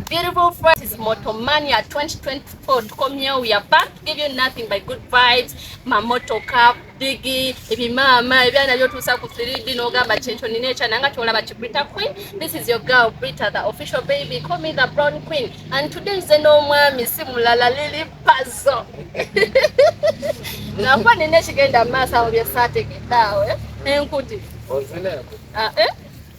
Beautiful friends, it's Motomania 2024. Tukomyewo, we are back to give you nothing but good vibes. Mamoto cup, biggie, ebimama, ebyana byotuusa ku 3D n'ogamba kyekyo nina ekyana nga kyolaba ki Brita Queen. This is your girl Brita, the official baby. Call me the brown queen. And today nze n'omwami si mulala Lili Pazo. Nakuba nina ekigenda mu maaso awo bye saategedde awo. Eh? Enkuti. Ozina enkuti. Ah, eh?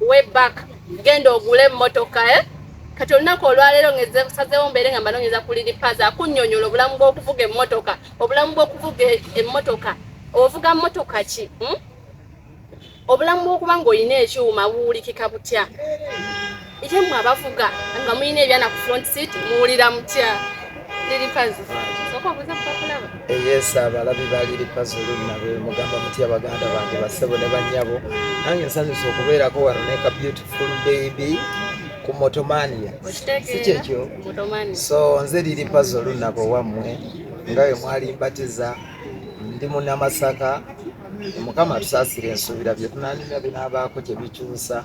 way back genda ogule emmotoka eh? kati olunaku olwaleero ngesazewo mbeere nga mbanoonyeza ku liripaza akunyonyola obulamu bw'okuvuga emmotoka obulamu bw'okuvuga emmotoka ovuga mmotoka ki hmm? obulamu bw'okuba ng'olina ekyuma buwulikika butya ite mwe abavuga nga mulina ebyana ku front seat muwulira mutya eyesa abalabi ba liri pazulu nabe mugamba mutya baganda bange basebo ne banyabo nange nsanyusa okubeerako wano neka beautiful baby ku motomania sikyekyo so nze liri pazulu nabo wammwe nga we mwali mbatiza ndi munamasaka mukama tusaasire ensuubira bye tunanimya binaabaako kye bikyusa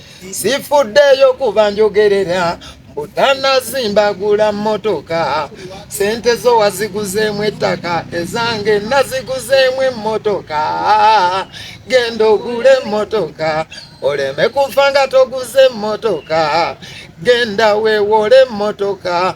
sifuddeyo kuba njogerera butannazimbagula mmotoka sente zo waziguzeemu ettaka ezange naziguzeemu emmotoka genda ogule emmotoka oleme kufa nga toguze emmotoka genda weewole emmotoka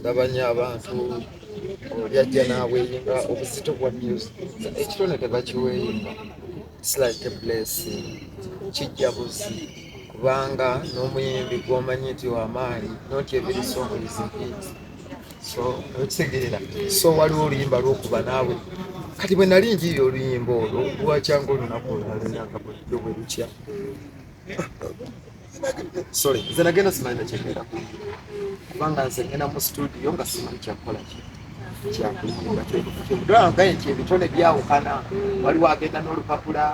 ndabanya abantu yajja n'aweyinga obuzito bwa music ekitone tebakiweyinga its like a blessing kijja buzi kubanga n'omuyimbi gwomanyi nti wamaanyi noti ebiri songo izihiti so okitegeera so waliwo oluyimba lwokuba naawe kati bwe nali njiri oluyimba olwo lwakyanga olunaku olunalinaakabuddo bwe lukya sorry nze nagenda simanyi nakyegenda kubanga nze ngenda mu studio nga simanyi kyakukola ki kyakuyimbakyogaye nti ebitone byawukana waliwo agenda n'olupapula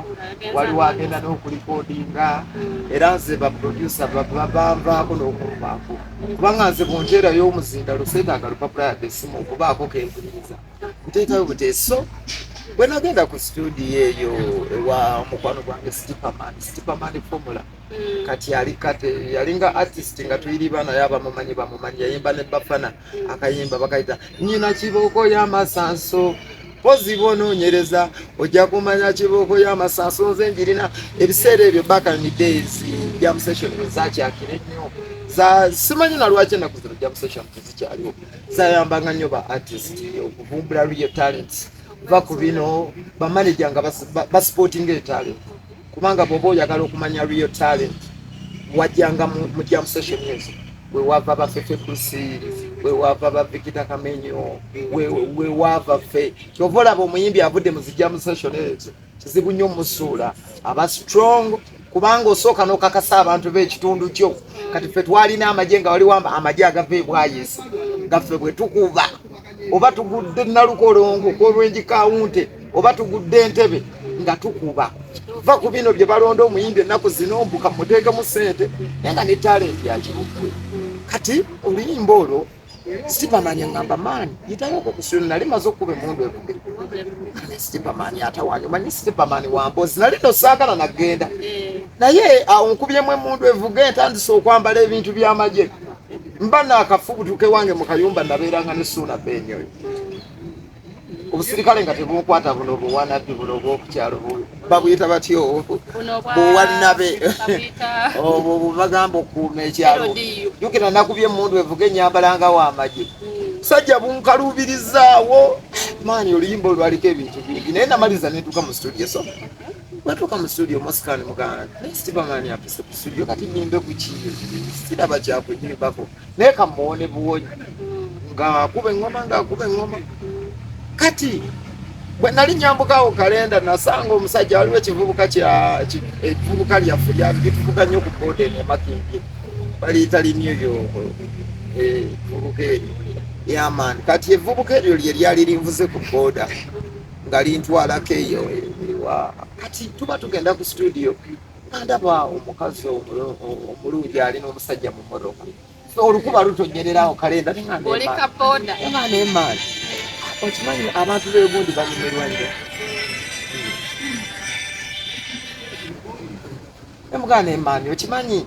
waliwo agenda n'okulikodinga era nze baprodusa babanvaako n'okunvaako kubanga nze bunjerayo omuzinda lusetaaga lupapula yadde simu okubaako kempuliriza nteekayo buteeso bwenagenda ku studio eyo ewa mukwano gwange stipaman stipaman formula mm. kati yali kate yalinga artist nga tuyiriba naye abamumanyi bamumanyi yayimba ne bafana mm. akayimba bakayita nyina kibooko y'amasanso mpozi bwonoonyereza ojja kumanya kibooko y'amasanso nze njirina ebiseera ebyo back in the days jam session zakyakire nnyo za simanyi na lwaki enaku zino jam session tezikyaliwo zayambanga nnyo ba artist okuvumbula real talent va ku bino bamaneja nga basipotinga etalent kubanga bwoba oyagala okumanya real talent wajjanga mu jam session ezo wewava bafefe kusi wewava bavikita kamenyo wewava fe kyova olaba omuyimbi avudde mu zijam session ezo kizibu nnyo musuula aba strong kubanga osooka nokakasa abantu bekitundu kyo kati fe twalina amagye nga waliwo amagye agava ebwayisi nga fe bwetukuba oba tugudde nalukolongo kwolwenji kawunte oba tugudde entebe nga tukuba va ku bino bye balonda omuyimbi ennaku zino mbuka muteekemu ssente naye nga ne talenti yakibuggwe kati oluyimba olwo sipamani ngamba maani yitayoko kusiro nali maze okuba emundu evuge sipamani atawanyi omanyi sipamani wambozi nali nosaagala nagenda naye awo nkubyemu emundu evuge ntandise okwambala ebintu byamagye mba naakafubutuke wange mu kayumba nabeeranga ne suuna benyoyo obusirikale nga tebunkwata buno buwanabbi buno obwokukyalo babuyita batyo buwanabe obwo bubagamba okukuuma ekyalo jukira nakubye emundu evuga enyambala nga wamagye hmm. sajja bunkaluubirizaawo maani oluyimba olwaliko ebintu bingi naye namaliza netuuka mu studio so Watuuka mu studio Moscan muganda naye Superman yapise ku studio kati nimbe ku kiyo siraba kyakunyibako naye kamuwone buwonyi ng'akuba eŋŋoma ng'akuba eŋŋoma kati bwe nali nyambukawo kalenda nasanga omusajja waliwo ekivubuka ekivubuka lyaffe lyatuvuga nnyo ku boda eno emakimbye baliyita limyo yo evubuka eh, eryo yamaani kati evubuka eryo lye lyali linvuze ku boda nga lintwalako eyo ewa kati tuba tugenda ku situdiyo nandaba omukazi omulungi ali n'omusajja mu motoka olukuba lutonyererawo kalenda nemaani okimanyi abantu begundi banyumirwa nyo emugana emaani okimanyi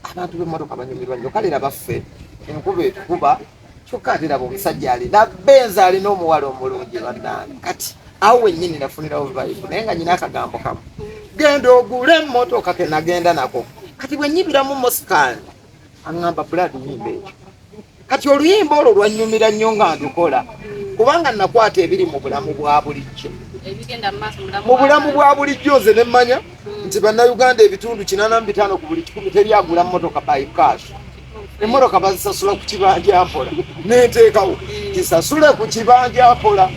abantu bemotoka banyumirwa nyo kale nabaffe enkuba etukuba kyokka ate laba omusajja alina benza alina omuwala omulungi bannange kati awo wennyini nafunirawo vibe naye nga nyina akagambo kamu genda ogule emmotoka ke nagenda nako kati bwe nyibiramu moskan aŋŋamba bulad nyimba ekyo kati oluyimba olwo lwannyumira nnyo nga ndukola kubanga nakwata ebiri mu bulamu bwa bulijjo mu bulamu bwa bulijjo nze ne mmanya nti bannayuganda ebitundu kinaana mu bitaano ku buli kikumi teri agula mmotoka by cash emmotoka bazisasula ku kibanja mpola nenteekawo kisasule ku kibanja mpola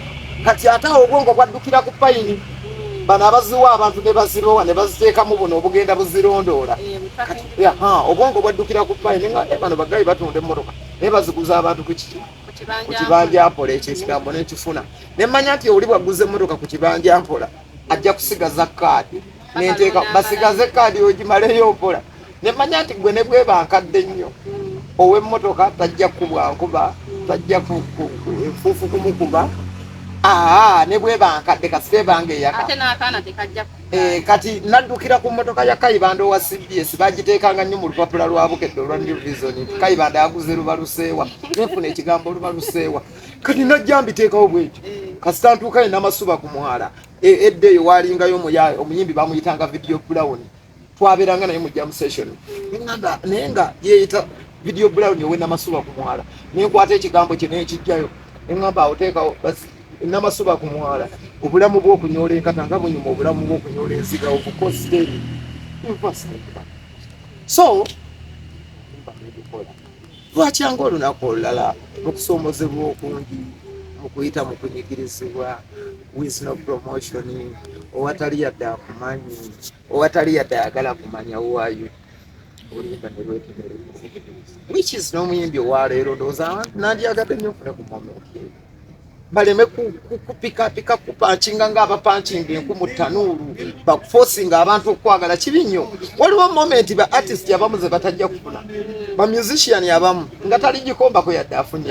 kati ate awo obwongo bwaddukira ku payini bano abaziwa abantu ne bazirowa ne baziteekamu buno obugenda buzirondoola eh, obwongo bwaddukira ku payini nga eh, bano bagayi batunda emmotoka naye baziguza abantu ku kiki ku kibanja mpola ekyo ekigambo nekifuna nemmanya nti oli bwaguza emmotoka ku kibanja mpola ajja kusigaza kaadi nenteeka basigaze kaadi ogimaleyo mpola nemanya nti gwe ne bweba nkadde nnyo ow'emmotoka tajja kubwa nkuba tajja enfuufu kumukuba aa ne bweba nkadde kasita ebanga eyaka eh, kati naddukira ku mmotoka ya kayibanda owa cbs bagiteekanga nnyo mu lupapula lwa bukedde olwa new vision nti kayibanda yaguze lubaluseewa nefuna ekigambo lubaluseewa kati najja mbiteekawo bwekyo eh. kasita ntuukayo namasuba ku mwala E, edda eyo waalingayo omuyaaye omuyimbi bamuyitanga video brown twabeeranga naye mu jam session nada naye nga yeeyita video brown owenamasuba ku mwala naye nkwata ekigambo kye neekijjayo engamba awoteekawo basi namasuba ku mwala obulamu bwokunyoola enkata nga bunyuma obulamu bwokunyoola enziga obukositeri so lwakyanga olunaku olulala mukusoomozebwa okungi mukuyita mukunyigirizibwa with no promotion owatali yadde akumanyi owatali yadde ayagala kumanya wayo olimba nelwekenere which is n'omuyimbi owaleero ndowooza nandyagadde nyo ofune ku momenti baleme kupikapika kupankinga nga abapankinga enku mu tanuulu bakufosinga abantu okwagala kibi nnyo waliwo momenti ba artist abamu ze batajja kufuna ba musician abamu nga tali gikombako yadde afunye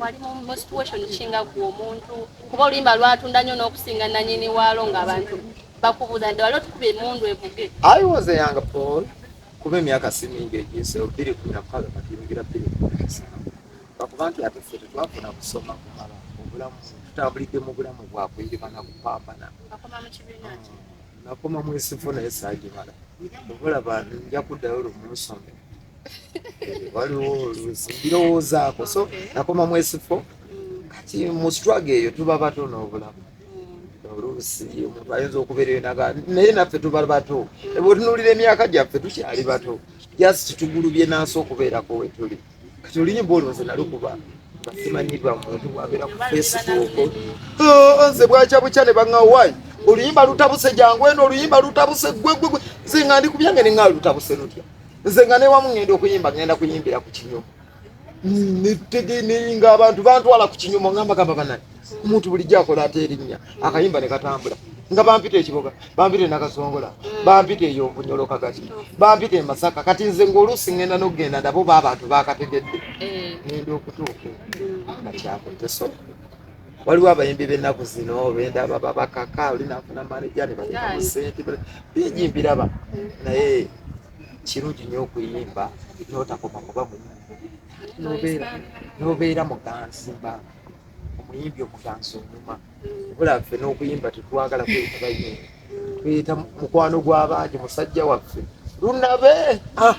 wali mu situation kinga ku omuntu kuba oluyimba lwatunda nnyo n'okusinga nanyini waalo ng'abantu bakubuuza nti wali otukuba emundu evuge i was a young paul kuba emyaka si mingi egiyise bbiri kumi na mukaaga kati yingira bbiri kumi na musanvu bakuba nti ate ffe tetwafuna kusoma kumala obulamu tutambulidde mu bulamu bwakuyirima na kupambana nakoma mwesifo naye saagimala obulaba nja kuddayo lumu nsome waliwo oluusi mbirowoozaako so nakoma mwesifo kati mu struggle eyo tuba bato n'obulamu oluusi omuntu ayinza okubeera eyo naga naye naffe tuba bato bwetunuulira emyaka gyaffe tukyali bato just tugulubye nansi okubeerako wetuli kati oluyimba olwo nze nalukuba nga simanyibwa muntu bwabeera ku facebook oh, nze bwakya bukya ne baŋawaayi oluyimba lutabuse jangu eno oluyimba lutabuse gwegwegwe nze nga ndi ku byange ne ŋaa lutabuse lutya nze nga newamu ngenda okuyimba ngenda kuyimbira ku kinyumu netege neyinga abantu bantwala ku kinyumu nga mbagamba banani omuntu bulijjo akola ate erinnya akayimba ne katambula nga bampita ekiboga bampita enakasongola bampita eyonvunyolo kagati bampita emasaka kati nze ngaoluusi ngenda nokugenda nabo ba abantu bakategedde eh. ngenda okutuuka nga kyakutesoka waliwo abayimbi b'ennaku zino benda baba bakaka oli nafuna maneja ne bateekamu sente bingi mbiraba naye kirungi nnyo okuyimba n'otakoma kuba muyibi n'obeera muganzi mba omuyimbi omuganzi onyuma obulaffe n'okuyimba tetwagala kweyita bayimbi tuyita mukwano gw'abangi musajja waffe lunabe ah.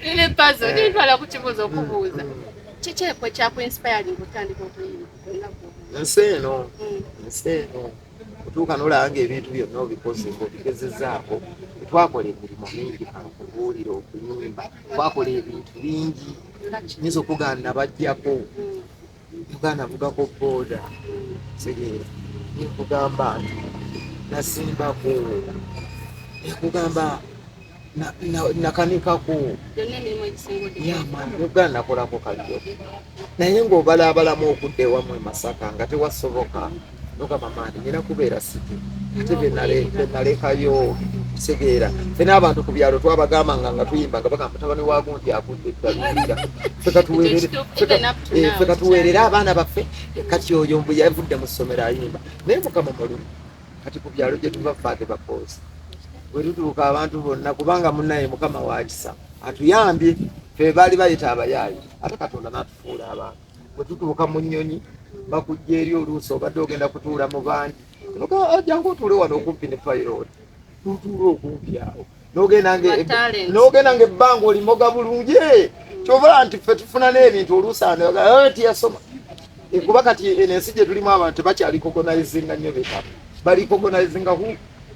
lile pazo eh. nintwala ku kibuuzo okubuuza mm. kiki ekyo ekyakuinspiring otandika okuyimba nsi eno mm. nsi eno otuuka nolabanga ebintu byonna obikoze ngaobigezezaako twakola emirimu mingi okubuulira okuyimba twakola ebintu bingi nyinza okugana bajjako mm. Muganda avugako boda tegeera nkugamba nti nasimbako nkugamba nakanikako muganda nakolako kalyo naye ngaobalaabalamu okudda ewamu emasaka nga tewasoboka nogamba mani nina kubeera sike ate benalekayo kitegeera fe n'abantu ku byalo twabagambanga nga tuyimba nga bagamba mutabani wa gundi agudde eddalubira fe katuweerere eh, abaana baffe kati oyo mbu yavudde mu ssomero ayimba naye mukama mulimu kati ku byalo gye tuva faade bakoozi bwe tutuuka abantu bonna kubanga munaye mukama wakisa atuyambye fe baali bayita abayaayi ate katonda n'atufuula abantu bwe tutuuka mu nnyonyi bakujja eri oluusi obadde ogenda kutuula mu bandi ah, jangu otuule wano okumpi ne payiroti tutuula okumpi awo n'ogenda ngaebbanga olimoga bulungi eh, kyova nti ffe tufuna n'ebintu oluusi anotiyasoma eh, eh, kuba kati eno ensi gye tulimu abantu tebakyalikogonaizinga nnyo betamu balikogonaizinga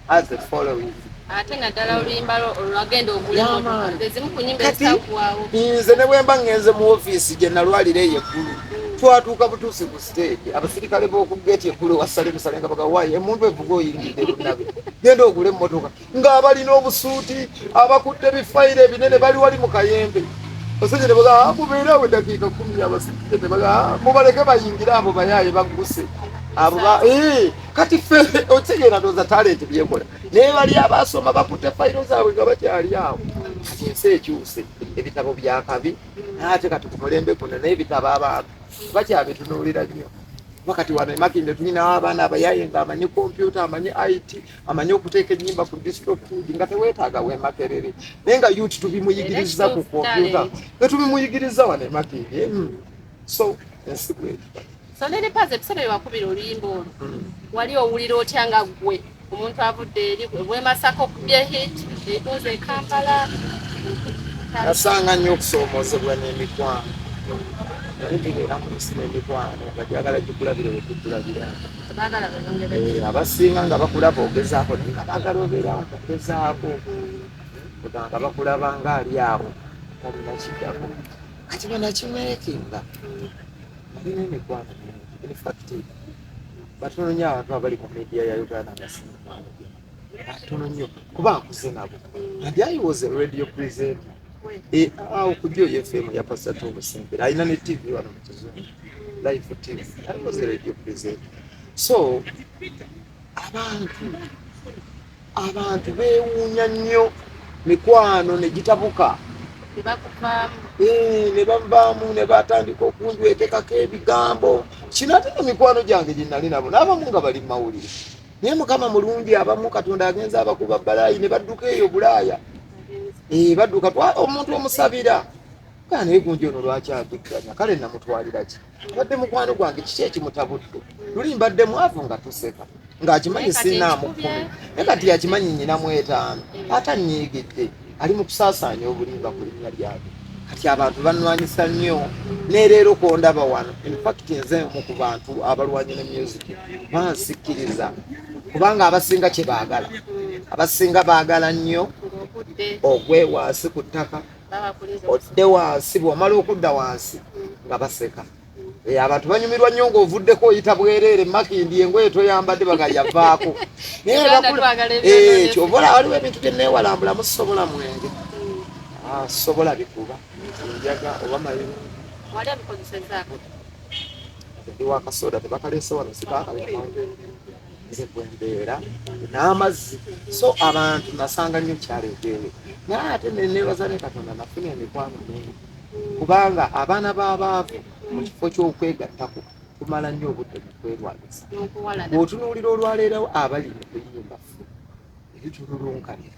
as the following ate naddala oluyimba lwo olwagenda ogulezimu ku nyimba ezitakuwaawo nze ne bwemba ngenze mu ofiisi gye nalwalira eyo eggulu twatuuka butuusi ku siteegi abasirikale b'oku geeti eggulu wasale musale nga bagawayo emuntu evuga oyingidde lunabe genda ogule emmotoka ng'abalina obusuuti abakutte bifayiro ebinene bali wali mu kayembe basajja ne bagaa ah, mubeere awo eddakiika kumi abasirikale ne bagaa ah, mubaleke bayingire abo bayaaye bagguse abo ba eh, kati ffe otegeera ndooza talenti byekola naye bali abaasoma bakutte fayiro zaabwe nga bakyali awo kati ensi ekyuse ebitabo byakabi ate kati kumulembe kuno naye ebitabo abantu bakyabitunuulira nnyo wakati wano emakinde tulinawo abaana abayaye nga amanyi kompyuta amanyi it amanyi okuteeka enyimba ku distrofood nga tewetaaga wemakerere naye nga yut tubimuyigiriza ku kompyuta etubimuyigiriza wano emakinde hmm. so ensi bweri so ne lipaze ebiseera byewakubira oluyimba olwo hmm. wali owulira otya nga gwe omuntu avudde eri bwemasaka okubye hit etuuza ekampala nasanga nnyo okusoomozebwa n'emikwano naye tubeera mu nsi n'emikwano nga gyagala gikulabire wekukulabira eh, abasinga nga bakulaba ogezaako naye nga bagala obeera okugezaako nga bakulaba nga ali awo omunakiddako kati banakimerekinga balina emikwano infact batono nyo abantu abali ku media ya uganda nga batono nyo kuba akuze nabo adi i was a radio presenter eh, ah, okujja oyo fm ya pasat obusembera alina ne tv wano mukizungu life tv i was a radio presenter so abantu Abantu beewuunya nnyo mikwano ne gitabuka eh, ne bavaamu ne batandika okunjwetekako ebigambo kino ate no mikwano gyange gye nali nabo n'abamu nga bali mu mawulire naye mukama mulungi abamu katonda agenza abakuba balaayi ne badduka eyo bulaaya eh, badduka omuntu omusabira kaa naye gunji ono lwaki adukkanya kale namutwalira ki mbadde mukwano gwange kiki ekimutabudde luli mbadde mwavu nga tuseka ng'akimanyi siinaamu kkumi naye kati yakimanyi nyina mu etaano ate annyiigidde ali mu kusaasaanya obulimba ku linnya lyabwe kati abantu banwanyisa nnyo nereero kwondaba wano infact nze omu ku bantu abalwanya ne music bansikkiriza kubanga abasinga kye baagala abasinga baagala nnyo ogwe wansi ku ttaka odde wansi bwomala okudda wansi nga baseka eh, abantu banyumirwa nnyo ngaovuddeko oyita bwereere makindi engoye toyambadde baga yavaako kyova eh, waliwo ebintu byenewalambulamu sobola mwenge ah, sobola bikuba njaga oba mayiru ndi wakasoda tebakaleese wano sikakale nze gwe mbeera n'amazzi so abantu nasanga nnyo kyaleeteeyo naye ate neneebaza ne katonda nafuna emikwano mingi kubanga abaana b'abaavu mu kifo ky'okwegattako tumala nnyo obudde mu kwerwanyisa bw'otunuulira olwaleerawo abali mu kuyimba ffe ebitululunkanira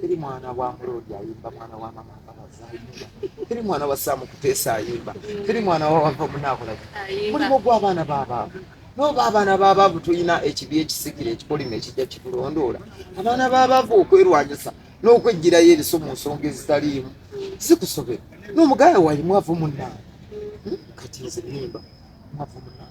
teri mwana wa muloodi ayimba mwana wa mama mbabazi ayimba teri mwana wa saamu kuteesa ayimba teri mwana wa wava munaakulaki mulimu gw'abaana b'abaavu nooba abaana b'abaavu tulina ekibi ekisikira ekikolimo ekijja kitulondoola abaana b'abaavu okwerwanyisa n'okwejjirayo ebiso mu nsonga ezitaliimu zikusobera n'omugaya wayi mwavu munnaa hmm? kati nze nimba mwavu munnaa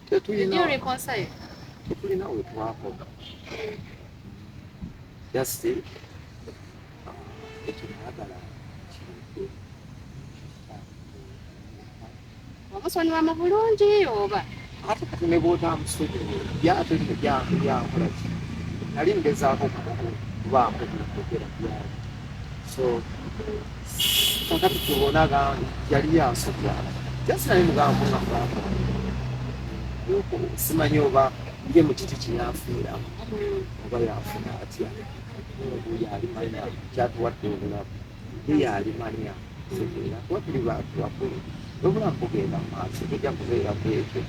tetulina tetulina we twakola just uh, ekinayagala kintu omusonyiwa mu bulungi oba ate kati ne bwotamusonyi byate byankolaki nali ngezaako kubaako byogera byali so kakati tubona yali yansokya just naye mugambo nga mugamba simanyi oba ye mu kiti kyeyafiira oba yafuna atya yalimanya kyatuwadde obulamu ye yalimanya kuba tuli bantu bakulu obulamu bugenda mu maaso tujja kubeera kwekyo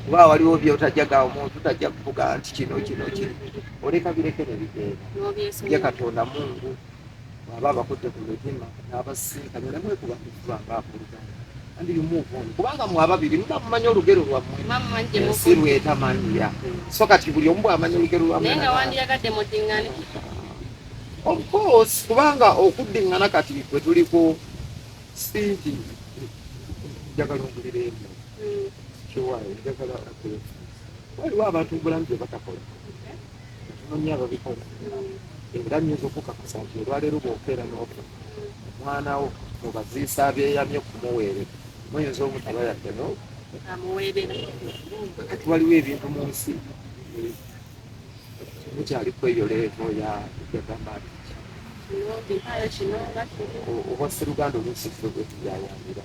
kuba waliwo byotajja ga omuntu tajja kuvuga nti kino kino kino oleka birekere ebigenda ye katonda mungu bwaba abakudde ku mitima n'abasisinkanye ne mwekuba kufuba ng'akuluganda and you move on kubanga mwababiri muba mumanyi olugero lwammwe ensi lwetamanyira so kati buli omu bwamanya olugero lwammwe of course kubanga okuddingana kati bwe tuliko sinti njagala ongulira emu hmm. kiwayo njagala waliwo abantu mubulamu byebatakola nonya ababikola era nyinza okukakasa nti olwaleero bwokeera nofa omwanawo mubaziisa abyeyamye okumuweere muyinza omutaba yadde no kati waliwo ebintu mu nsi mukyali kweyoleevo yagamba nti oba siruganda oluusi fe bwetuyayambira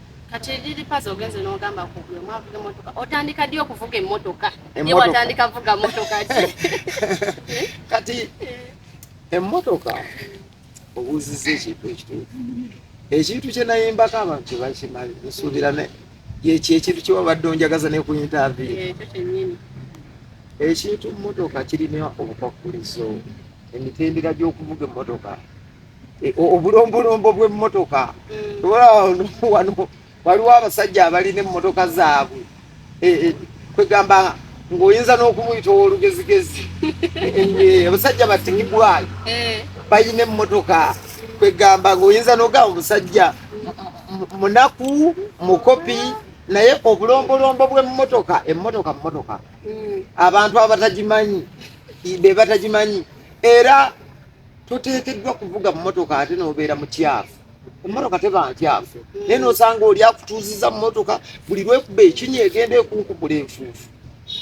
kati lilipazi ogenze n'ogamba ku buli omu avuga emmotoka otandika ddi okuvuga emmotoka ye watandika vuga mmotoka ki kati emmotoka obuuzizza ekintu ekituufu ekintu kye nayimbako abantu tebakimali nsuubira yekyo ekintu kyewabadde onjagaza nekuyintavi ekintu mmotoka kirina obukwakulizo emitendera gy'okuvuga emmotoka e, obulombolombo bw'emmotoka mm. wano waliwo abasajja abalina emmotoka zaabwe e, e, kwegamba ng'oyinza n'okumuyita ow'olugezigezi abasajja batigibwayo balina emmotoka kwegamba ng'oyinza n'ogamba omusajja munaku mukopi naye obulombolombo bw'emmotoka emmotoka mmotoka mm. abantu abatagimanyi be batagimanyi era toteekeddwa kuvuga mmotoka ate n'obeera mukyafu emmotoka teba nkyafu naye n'osanga oli akutuuziza mmotoka buli lwekuba ekinya egenda ekunkukula enfuufu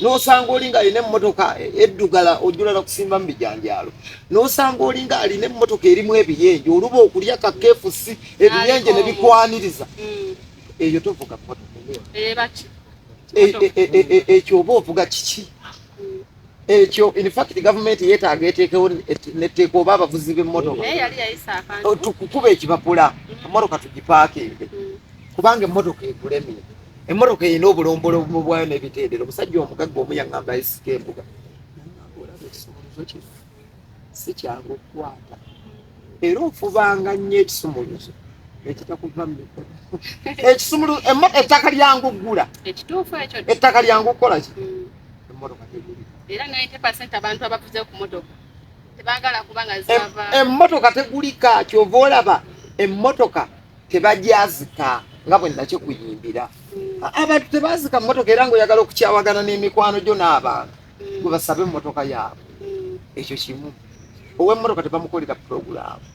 n'osanga oli nga alina emmotoka eddugala ojula na kusimba mu bijanjaalo n'osanga oli nga alina emmotoka erimu ebiyenje oluba okulya kakeefusi ebiyenje ne bikwaniriza mm. eyo tovuga mmotoka eh, eh, eh, ekyo oba ovuga kiki mm. ekyo in fact government yetaaga eteekewo netteeka oba abavuzi b'emmotoka oh, tukukuba ekipapula mm. emmotoka tugipaakinge mm. kubanga emmotoka egulemye emmotoka erina obulombolomu bwayo n'ebitendero omusajja omugagga omu yaŋŋamba esika embuga si kyangu okukwata era ofubanga nnyo ekisumuluzo ekitakuva mu mikono ekisumuluzo ettaka lyangu okugula ettaka lyangu okukola ki hmm. emmotoka teguli era 90 percent abantu abavuze ku motoka tebagala kuba nga zava emmotoka tegulika kyova olaba emmotoka tebagyazika nga bwe nakyo kuyimbira hmm. abantu tebazika mu motoka era ngaoyagala okukyawagana n'emikwano gyo n'abantu gwe basabe emmotoka yaabwe ekyo kimu ow'emmotoka tebamukolera pulogulaamu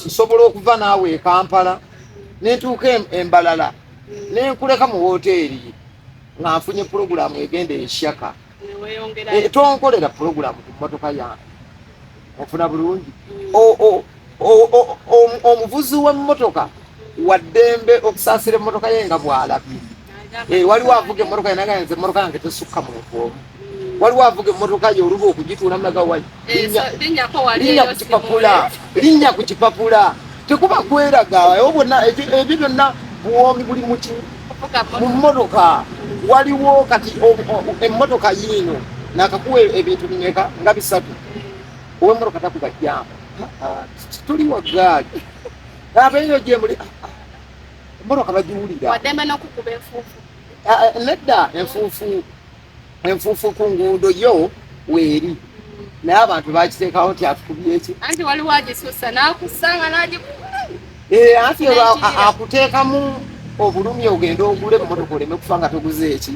nsobola okuva naawe e kampala nentuuka embalala nenkuleka mu wooteeri nga nfunye pulogulaamu egenda ekyaka eh, tonkolera pulogulaamu ku mmotoka yange ofuna bulungi mm. omuvuzi w'emmotoka waddembe okusaasira emmotoka ye nga bw'alabye eh, waliwo avuga emmotoka yenagaa nze emmotoka yange tesukka muntu omu waliwo avuga emmotoka ye oluba okugituula mulaga wayi eh, linnya ku kipapula linnya ku kipapula tekuba kweraga ebyo bonna ebyo byonna buwoomi buli muki mu mmotoka waliwo kati emmotoka yiino nakakuwa ebintu bimeka nga bisatu owemoro kata kuba jamu tuli wagaali abeeyo gyemuli emoro kabagiwulira nedda enfuufu enfuufu ku nguudo yo weeri naye abantu bakiteekawo nti atukubyeki anti waliwo agisusa nakusanga nagikuba eh, anti akuteekamu obulumi ogenda ogule emotoka oleme kufa nga toguze eki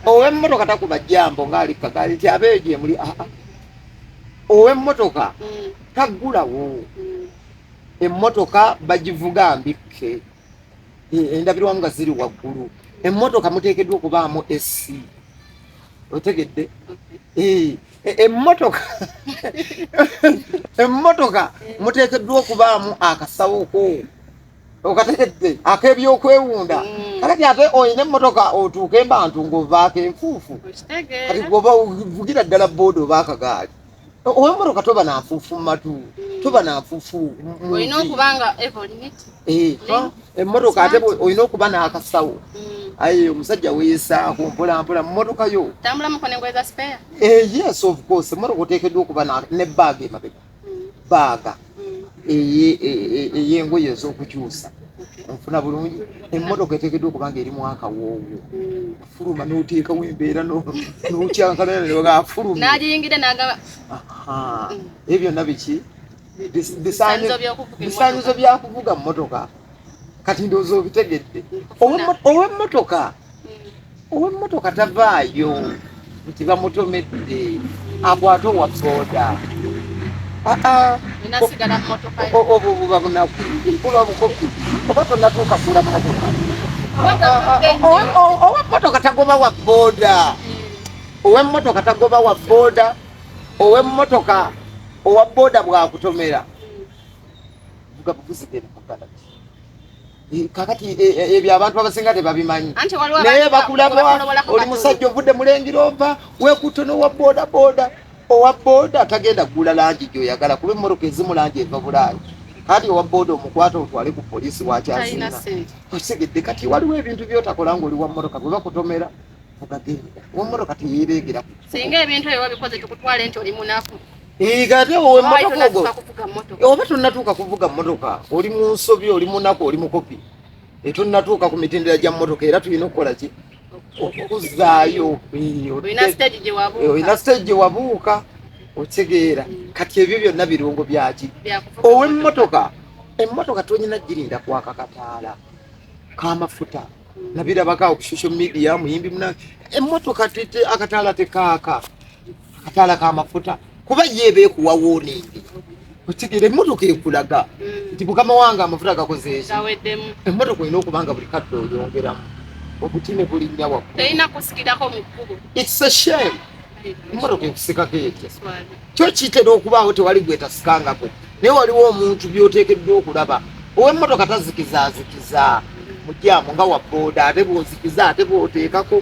owemmotoka takuba jambo ngaalikkagali nti abeeyo gyemuli aa ah, ah. ow'emmotoka mm. taggulawo mm. emmotoka bagivuga mbikke e, endabirwamu nga ziri waggulu emmotoka muteekeddwa okubaamu esi otegedde e, emmotoka emmotoka muteekeddwa okubaamu akasawoko okategedde akebyokwewunda mm. kakati ate olina emmotoka otuuke mbantu ngaovaako enfuufu kati goba vugira ddala booda oba akagaali owemmotoka toba nanfuufu mumatu mm. toba nanfuufu emmotoka ate olina okuba n'akasawo mm. aye omusajja weyesaako mpolampola mummotoka yo eh, yes of course emmotoka oteekeddwa okuba ne baaga emabega baaga ey'engoye ez'okukyusa nfuna bulungi emmotoka eteekeddwa okuba nga eri mwaka woowo fuluma n'oteekawo embeera nokyankalaaafulumnagiyingidde nagaba ebyo byonna biki bisaanyizo byakuvuga mmotoka kati ndowooza obitegedde owemmotoka hmm. owemmotoka tavaayo nti bamutomedde akwate owa boda obwo buba bunaku buba bukopi oba tonatuuka kula motoka owemmotoka tagoba wa boda hmm. owemmotoka tagoba wa boda owemmotoka owa boda bwakutomera vuga buvuzi gere mukala eh, kakati eh, eh, ebyo abantu abasinga tebabimanyi naye bakulaba oli musajja ovudde mulengira ova wekuto nowa boda boda owa boda tagenda kugula langi gyoyagala kuba emmotoka ezimu langi eva bulaayi kati owa boda omukwata otwale ku polisi wakyazina osegedde kati waliwo ebintu byotakola nga oli wa mmotoka bwe bakutomera vugagenda wa mmotoka teyeereegeraku singa ebintu ebyo wabikoze tukutwale nti oli munaku Igate wowe motoka ogo. Oba tunatuka kuvuga motoka. Oli mu nsobi, oli mu nako, oli mu kopi. Etu natuka ku mitendera gya motoka era tulina okukola ki? Okuzaayo. Olina stage gye wabuuka. Olina stage gye wabuuka. Otegeera. Mm. Kati ebyo byonna birungo byaki? Owe motoka. Emmotoka tonyina girinda kwaka kataala. Kamafuta. Mm. Nabirabaka ku social media muyimbi muna. Emmotoka tete akataala tekaaka. akataala k'amafuta kuba ye eba ekuwa woningi okitegera emmotoka ekulaga mm. nti mukama wange amafuta gakozeeki emmotoka olina okuba nga buli kadde oyongeramu obuti ne bulinnya waggulushame emmotoka ekusikako etya kyo kitera okubaawo tewali gwetasikangako naye waliwo omuntu byoteekeddwa okulaba ow'emmotoka tazikizaazikiza mujyamu nga wabooda ate bwozikiza ate bwoteekako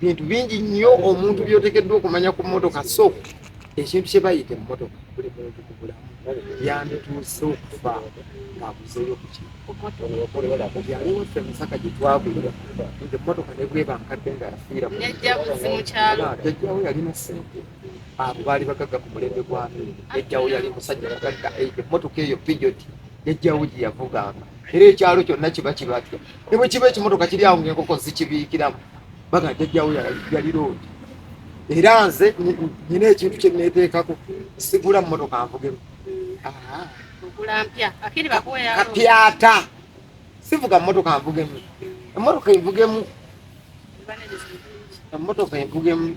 bintu bingi nnyo omuntu byotekeddwa okumanya ku motoka so ekintu kye bayita emmotoka buli muntu ku bulamu yandituuse okufa ng'abuzeeyo kukialiwaffe musaka gye twagulira nti emmotoka ne bweba nkadde nga yafiira jajjawo yalina sente abo baali bagagga ku mulembe gwami jajjawo yali musajja mugagga emmotoka eyo pijoti jajjawo gye yavuganga era ekyalo kyonna kiba kibadde ne bwe kiba ekimotoka kiri awo ngaenkoko zikibiikiramu baga jajjawo yali loodi era nze nyina ekintu kye neeteekako sigula mu motoka nvugemu kapyata sivuga motoka nvugemu emotoka envugemu emotoka envugemu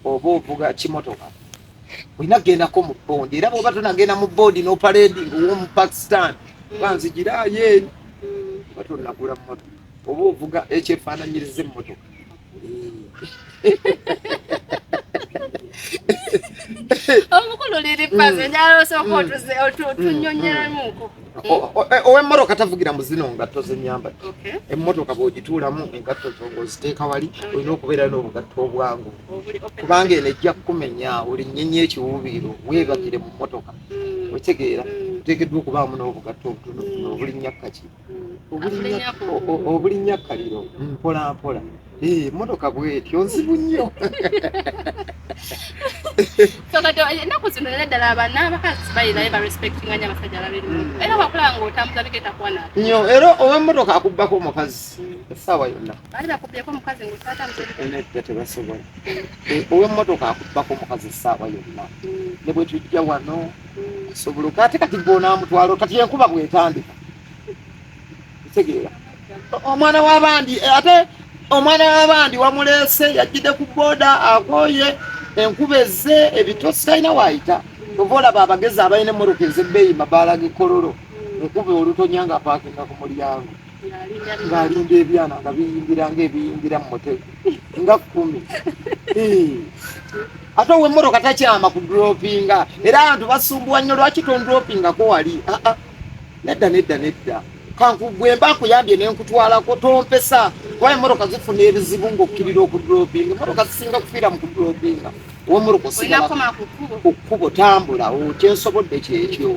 oba ovuga kimotoka olina kugendako mu bondi era bwoba tonagenda mu bondi noparedi ngaowomu pakistan banzigirayo eri oba tonagula mumotoka oba ovuga ekyefaananyiriza emmotoka owemmotoka tavugira mu zino ngatto zenyamba emmotoka bwogituulamu engatto zongoziteeka wali olina okubeerayo n'obugatto obwangu kubanga eno ejja kukumenya olinyenye ekiwuubiiro weebakire mu mmotoka mm. okitegeera mm. oteekeddwa okubaamu n'obugatto obutonotono mm. obulinnya kkaki obulinnya kkaliro mpolampola eh, mmotoka bwetyo nzibu nnyo ennaku zino era ddala abana abakazi balinaye barespectinga nyo abasajja babiri era wakulaba nga otambuza bigenda kuwanaa nyo era ow'emmotoka akubbako omukazi essaawa yonna Bali bakubyeko mukazi ngo tata mzee. Ene tete basobola. Eh, owe mmotoka akubako mukazi saawa yonna. Mm. Ne bwe tujja wano mm. sobola kati kati bona mutwalo kati yenkuba bwetandika. Tegeera. Omwana w'abandi eh, ate omwana w'abandi wamuleese yajjide ku boda akoye enkuba ezze ebitosi talina waayita. Ova olaba abagezi abalina emmotoka ez'ebbeeyi mabaala g'ekololo. Mm. Enkuba olutonya nga apaakinga ku mulyango. ng'alinda ebyana nga biyingira ng'ebiyingira mu mutego nga kkumi ate ow'emmotoka takyama ku dropinga era abantu basumbuwa nnyo lwaki tondropingako wali ah, ah. nedda nedda nedda kankugwe mba nkuyambye ne nkutwalako tompesa kuba emmotoka zifuna ebizibu ng'okkirira okudropinga emmotoka zisinga kufiira mu kudropinga ow'emmotoka osigala ku kkubo tambula okyensobodde kyekyo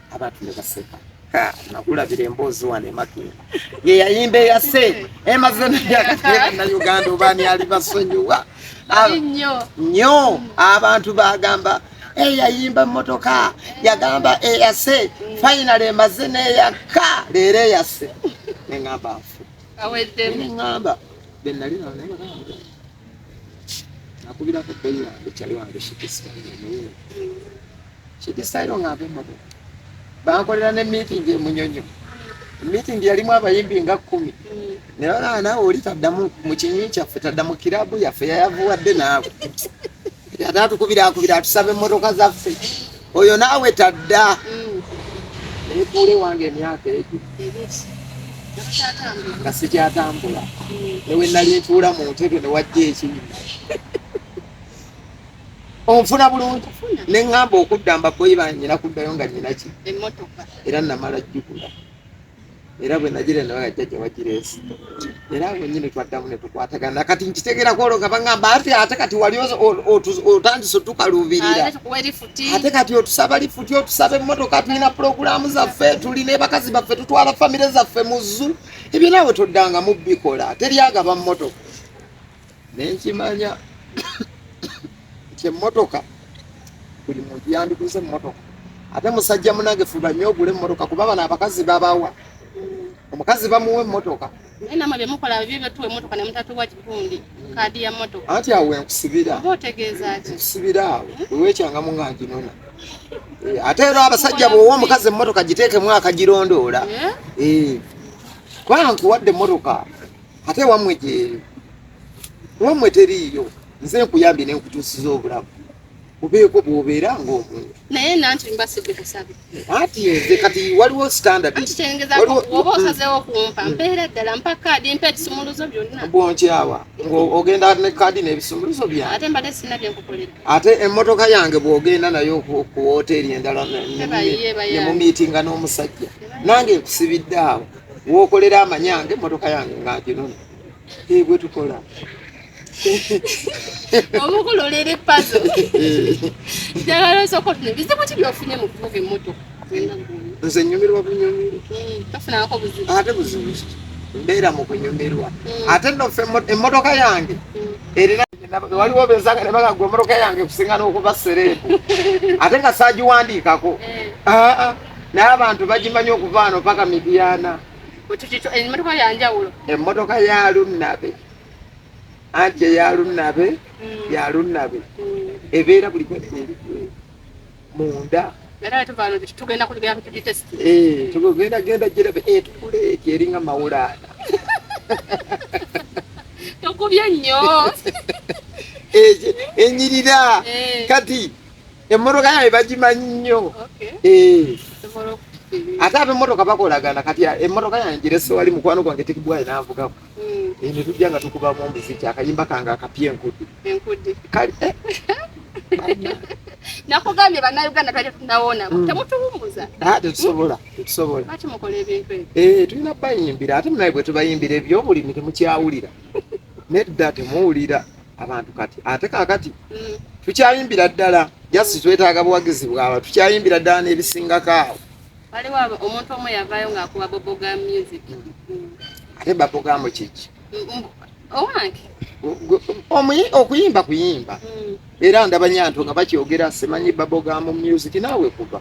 abantu ne baseka nakulabira emboozi wano emakera ye yayimba eyase emaze nayagatebanauganda obaani ali basonyiwa nyo abantu bagamba eyayimba motoka yagamba eyase fainal emaze neyaka leero eyase neŋamba nfu neŋamba benali nakubirako boyi wange kyali wange shikisika Kidisayo nga ave mu bubbi. Bankolera ne miitingi e Munyonyo. Miitingi yalimu abayimbi nga kkumi. Ne balaba naawe oli taddamu mu kinywi kyaffe, tadda mu kiraabu yaffe yayavuwadde naawe. Ate atukubira akubira atusaba emmotoka zaffe. Oyo naawe tadda. Neetuula ewange emyaka egyo. Nga sikyatambula. Ne we nali ntuula mu ntebe ne wajja ekinyuma. onfuna bulungi ne ŋŋamba okudda mbaboyi banyina kuddayo nga nyina ki era namala jjukula era bwe nagira nawe ajjajja wagireesi era awo nyini twaddamu ne tukwatagana kati nkitegera kwoloka baŋamba ate ate kati wali otandise otukaluubirira ate kati otusaba lifuti otusaba emmotoka tulina pulogulaamu zaffe tuli nebakazi baffe tutwala famire zaffe mu zzu ebyo naawe toddanga mu bikola teryagaba mmotoka nenkimanya nti emmotoka buli muntu yandiguze emmotoka ate musajja munange fuba nnyo ogule emmotoka kuba bano abakazi babawa omukazi bamuwa emmotoka namwe byemukola bibyo byetuwa emmotoka nemutatuwa kikundi kaadi ya mmotoka anti awo enkusibira oba otegeeza ki nkusibira awo wewekyangamu nga nginona eh, ate era abasajja bwowa omukazi emmotoka giteekemu akagirondoora eh? eh. kuba nkuwadde emmotoka ate wammwe gyeyo wammwe teriiyo nze nkuyambye ne nkutuusiza obulamu obeeko bwobeera ngaomuntu naye nanti mba sibikusabe anti nze kati waliwo standardkitengezaoba osazewo kumpa hmm. mpeera ddala mpa kaadi mpa ebisumuluzo byonna bwonkyawa ng'ogenda ne kaadi n'ebisumuluzo byange ate mbadde sina byenkukolera ate emmotoka yange bw'ogenda nayo ku wooteeri endala ne mu miitinga n'omusajja nange nkusibidde awo wokolera amanyange motoka yange nga nkinona ebwe tukola omukulolera epazo njagala osooka ofuna bizibu ki byofunye mu kuvuga emmotoka nze nyumirwa bunyumirwa tofunako buzibu ate buzibu mbeera mu kunyumirwa hmm. ate nofe emmotoka yange hmm. erina waliwo benzanga ne bagagwa emmotoka yange kusinga n'okuba sereebu ate nga saagiwandiikako eh. ah, ah. naye abantu bagimanyi okuva ano paka midiana emmotoka yanjawulo emmotoka ya lunnabe anti eya lunnabe mm. ya lunnabe mm. ebeera buli kweri munda tugenda genda girabe etukula eh, eti eringa mawulaana tokubye nnyo enyirira eh, eh. kati emmotoka yaye bagimanyi nnyo eh. ate abemmotoka bakolagana kati emmotoka yange girese wali mukwano gwange tekibwayi navugako hmm. eh, ne tujja nga tukubamu omuziki akayimba kange akapya enkudi kale eh. nakugambye banauganda twali tunawona hmm. temutuwumuza ah, tetusobola tetusobola tulina bayimbira ate munaye bwetubayimbira ebyobulimi temukyawulira nedda temuwulira abantu kati ate kakati mm. tukyayimbira ddala jasi mm. twetaaga buwagizi bwaba tukyayimbira ddala n'ebisingako awo waliwo omuntu omu yavayo ng'akuba boboga music mm. ate babogamu kiki owange okuyimba kuyimba era ndaba nyanto nga bakyogera simanyi babogamu music naawe kuba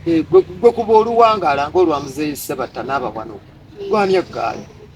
eh, gwe kuba oluwangala ngaolwamuzeeyi sebatta n'abawanuku gwani eggaali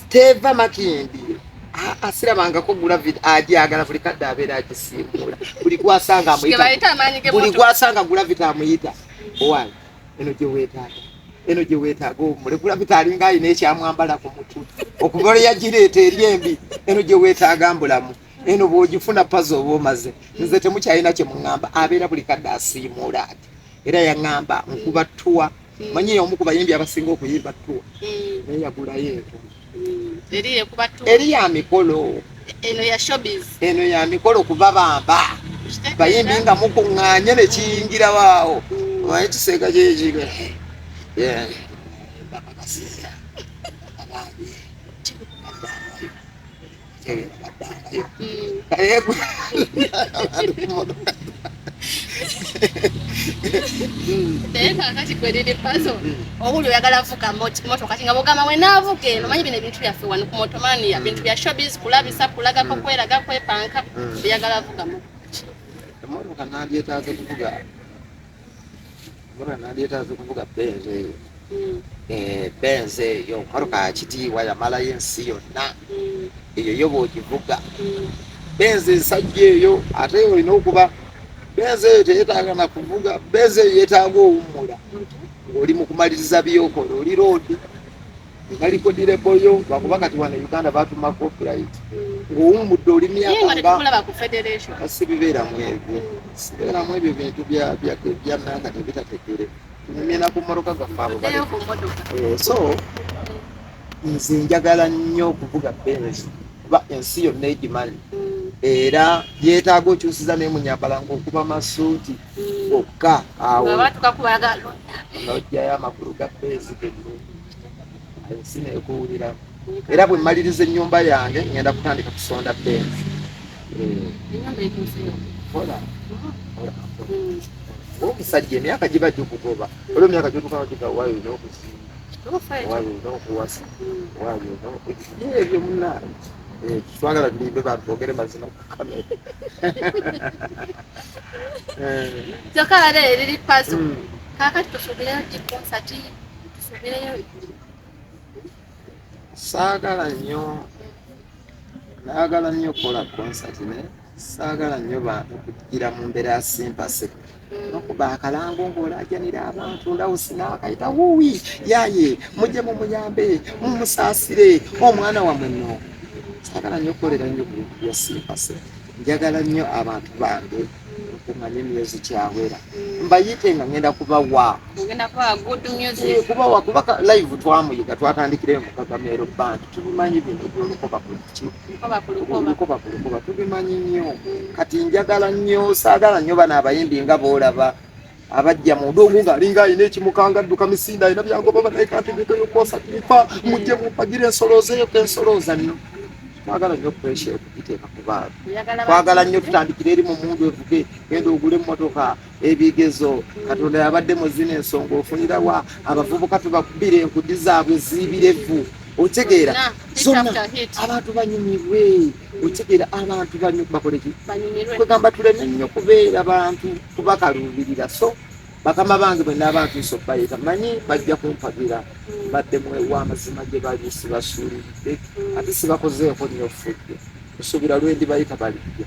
Steva Makindi asirabangako gulavid ajagala buli kadde abeera agisimbula buli gwasanga buli gwasanga gulavid amuyita owange eno gye weetaaga eno gye weetaaga omule gulavid alinga alina ekyamwambala ku mutu okuva lwe yagireeta eri embi eno gye weetaaga mbulamu eno bw'ogifuna pazi oba omaze nze temukyalina kye muŋŋamba abeera buli kadde asiimuula ati era yaŋŋamba nkuba ttuwa mm. manyi y'omu ku bayimbi abasinga okuyimba ttuwa mm. naye yagulayo ento mm. eri ya mikolo eno ya showbiz eno ya mikolo kuba bamba bayimbi nga mukuŋŋaanye ne kiyingira waawo omanyi kiseeka kyekiga naye kakati kweriri pazo obuli oyagala vuga motoka kinga bugamba mwenaavuga eno manyi bino ebintu byaffe wano ku motomania bintu bya shobis kulabisa kulagako kweraga kwepanka oyagala vuga motoka emotoka nandyetaaze kuvuga mbona nandyeetaze kuvuga benzi eyo hmm. eh, benzi eyo motoka yakitiibwa yamalayo ensi yonna hmm. eyo yo bwogivuga hmm. benzi ensajja eyo ate olina okuba benzi eyo teyetaaga na kuvuga benzi eyo yetaaga owummula ng'oli mu kumaliriza byokola oli loodi balikodire boyo bakuba kati wano uganda batuma copyright ng'owummudde oli myakasibibeeramu ebyo sibeeramu ebyo bintu byananga tebitategere tunyumyena ku mmotoka gaffe abo eh, so nze njagala nnyo okuvuga benz kuba ensi yonna egimanyi era yeetaaga okyusiza naye munyambala ngaokuba masuuti bokka awo nojjayo amakulu ga beezi genno ensi nekuwulira era bwe mmaliriza ennyumba yange ngenda kutandika kusonda beezi omusajja emyaka giba gikugoba olwo emyaka gyotukana gigawayo olina okuzimba wayo olina okuwasa wayo ebyo munange twagala tulimbe bantu bogere mazima kyokka bade eriri paso hmm. kakati tusubireyo ki konsati tusubireyo saagala nnyo naagala nnyo okukola konsati naye saagala nnyo bantu kugira mu mbeera ya simpaseke bakuba akalango ng'olaajanira abantu ndawusi n'akayita wuwi yaye mujje mumuyambe mumusaasire omwana wamwe no sagala nnyo okukolera nnyo ku bintu bya siipase njagala nnyo abantu bange okumanya emyezi kyawera mbayite nga ngenda kubawa kubawa kubaka live twamuyiga twatandikirayo mukagameero bantu tubimanyi bino byolukoba kuki lukoba ku lukoba tubimanyi nnyo kati njagala nnyo saagala nnyo bano abayimbi nga boolaba abajja munda omu ng'alinga alina ekimukanga adduka misinda alina byagoba banaye kanti bitoyokosa tifa mujje mumpagire ensoloozeeyo ku ensolooza nno twagala nnyo puresha okugiteeka ku baana twagala nnyo tutandikire eri mu mundu evuge genda ogule emmotoka ebigezo katonda yabadde mu zino ensonga ofunira wa abavubuka tubakubira enkudi zaabwe zibirevu otegeera zonna abantu banyumirwe otegeera abantu bakoleki kwegamba tuleme nnyo kubeera bantu kubakaluubirira so bakama bange bwe naabantu nsobayita manyi bajja kumpagira hmm. badde mwewa amazima gye bali sibasuulidde hmm. ate sibakozeeko nnyo fudde nsuubira lwendibayita balijja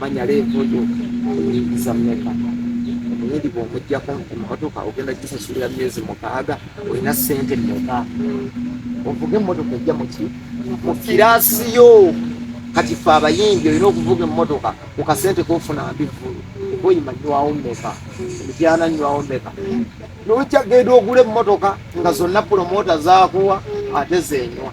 manya leevu yo oyingiza mmeka omuyindi bw'omugyako emmotoka ogenda gisasulira myezi mukaaga olina ssente mmeka ovuga emmotoka ejja muki mu kiraasi yo kati fe abayimbi olina okuvuga emmotoka ku kasente kofuna mbivulu oyima nywawo mmeka emityana nywawo mmeka nojja genda ogula emmotoka nga zonna pulomota zakuwa ate zenywa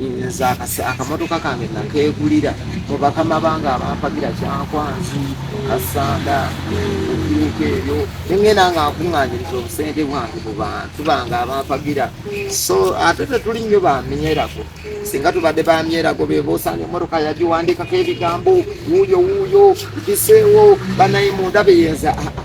nze akamotoka kange nakegulira mubakama bange abampagira kyankwanzi kasanda ebiiko ebyo nengenda nga nkuŋanyiriza obusente bwange mu bantu bange abampagira so ate tetuli nnyo bamyerako singa tubadde bamyerako beboosanga emotoka yagiwandikako ebigambo wuuyo wuuyo biseewo banaye munda beyenza aa ah, ah.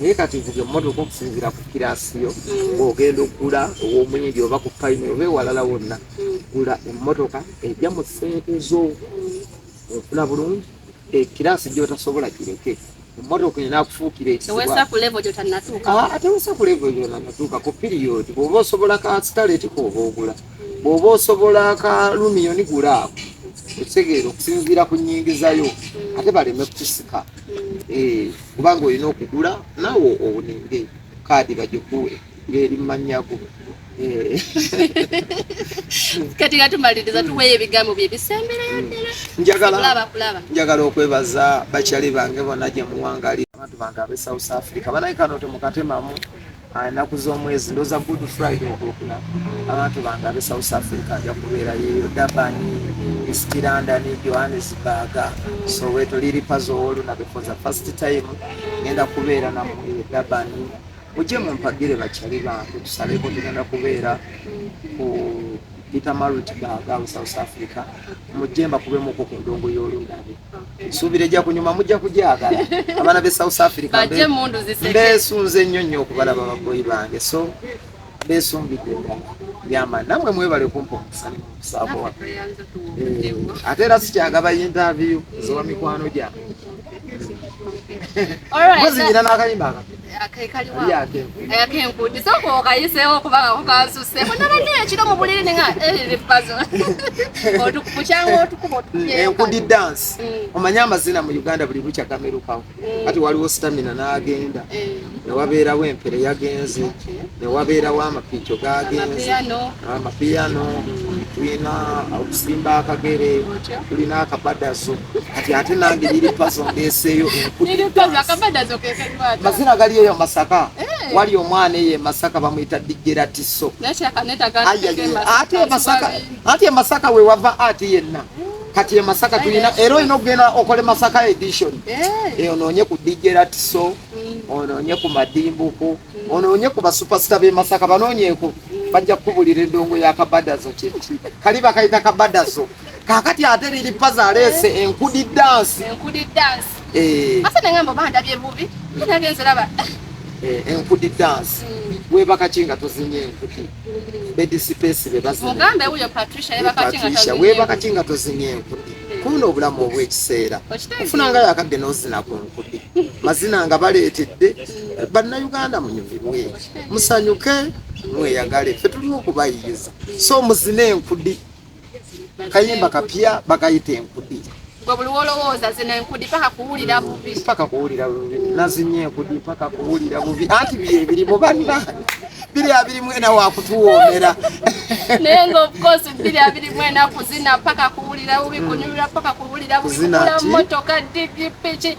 naye kati vuga emmotoka okusinziira ku kiraasi yo ng'ogenda okugula ow'omwindi oba ku payini oba ewalala wonna gula emmotoka ejja mu ssente zo ofuna bulungi ekiraasi gy'otasobola kireke emmotoka enakufuukira ekitewesa ku levo gyotannatuuka ah, ku piriyodi bw'oba osobola ka sitaleti kooba ogula bw'oba osobola akalumiyoni gula ako ekitegeera okusinziira ku nyingizayo ate baleme kukusika eh, kubanga olina okugula nawe owuninge kaadi bagikuwe ng'eri mumanyago eh. kati nga tumaliriza tuweeyo ebigambo bye bisemberayo hmm. ddala njagala okwebaza bakyali bange bona gye muwangali abantu bange ab'e south africa banaye kano temukatemamu ennaku z'omwezi ndoza good friday okulukuna abantu bange abe south africa aja kubeera yeyo durban east london johannesburg soweto liripazo owolunabe for the first time ngenda kubeera namwe durban mujje mumpagire bakyali bange tusaleko tugenda kubeera ku peter marit baga south africa mujje mbakubemuko ku ndongo y'olunabe nsuubira ejja kunyuma mujja kugyagala abaana be south africa mbesunze nnyo nnyo okubalaba baboyi bange so besumbidde ddala yama namwe mwebale kumpa omusani musaabo wa eh, ate era sikyagaba yintaviyu zowa mikwano gyange muziyina n'akayimba akapya akenkudisa eh, okwo okayiseewo okubanga kukansuseeko nabadde ekiro mu buliri ninga ebipazo eh, otukukyanga otukuba otukuyenkudi eh, dance mm. omanyi amazina mu uganda buli lukya gamerukawo mm. kati waliwo stamina n'agenda newabeerawo empere yagenze newabeerawo amapiico gagenze amapiyano tulina okusimba akagere tulina akabadazo kati ate nange liri pazo ndeseeyo mazina gali eyo masaka eh. wali omwana eyo emasaka bamuyita dijera tiso ate emasaka ate emasaka wewava ati yenna eh. kati emasaka tulina era olina okugenda okole masaka edition eh. onoonye ku dijera tiso mm. onoonye ku madimbuku mm. onoonye ku basupersita bemasaka banoonyeku bajja kukubulira endongo ya kabadazo kiki kali bakayita kabadazo kakati ate liri paza aleese enkudi dansi enkudi dansi eh. ate nengamba bandabye bubi nabye nziraba eh, enkudi dansi hmm. webakaki nga tozinye enkudi bedisipesi bebazinepatricia webakaki nga tozinye enkudi kuno obulamu obwekiseera ofuna nga yakadde nozina ku nkudi mazina nga baleetedde hmm. bannayuganda munyumirwe musanyuke mweyagale ffe tulina okubayiriza so muzina enkudi kayimba kapya bakayita enkudi paka kuwulira bubi nazinya enkudi paka kuwulira bubi anti biri ebirimu banna biri abirimu ena wakutuwoomera naye nga obukozi biri abirimu ena kuzina paka kuwulira bubi kunyumira paka kuwulira bubi kugula motoka digi piki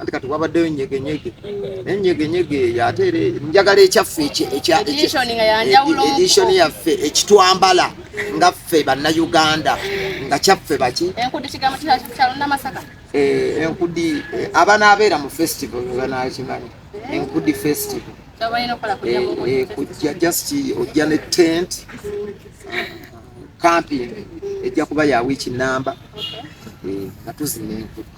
anti kati wabaddeyo nyegenyege naye nyegenyege eyo ate era njagala ekyaffe edishon yaffe ekitwambala nga ffe bannayuganda nga kyaffe baki enkudi eh, eh, abanaabeera mu festival bebanakimanyi eh. enkudi festival kujja just ojja ne tent camping ejja kuba ya wiiki namba nga tuzina enkudi